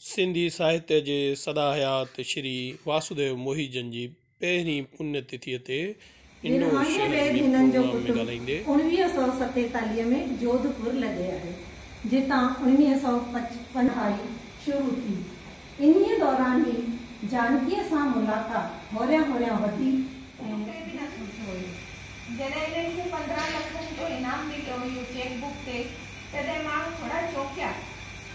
سنڌي ساهتيه جي سدا حيات شري واسوديو موهي جن جي پهرين پڃ تٿيء تي انڊور شهر ۾ پروگرام ۾ ڳالهائيندي. اوڻويهه سؤ ستيتاليهه ۾ جوڌ پور لڏي آهي، جتان اوڻويهه سؤ پچپن هائي شروع ٿي. انهيء دوران ئي جانڪيء سان ملاقات هوريان هوريان وڌي ۽. اتي به نه سوچيو هيو. جڏهن هنن کي پندرهن لکن جو انعام مليو هيو چيڪ بڪ تي، تڏهن ماڻهو ٿورا چونڪيا.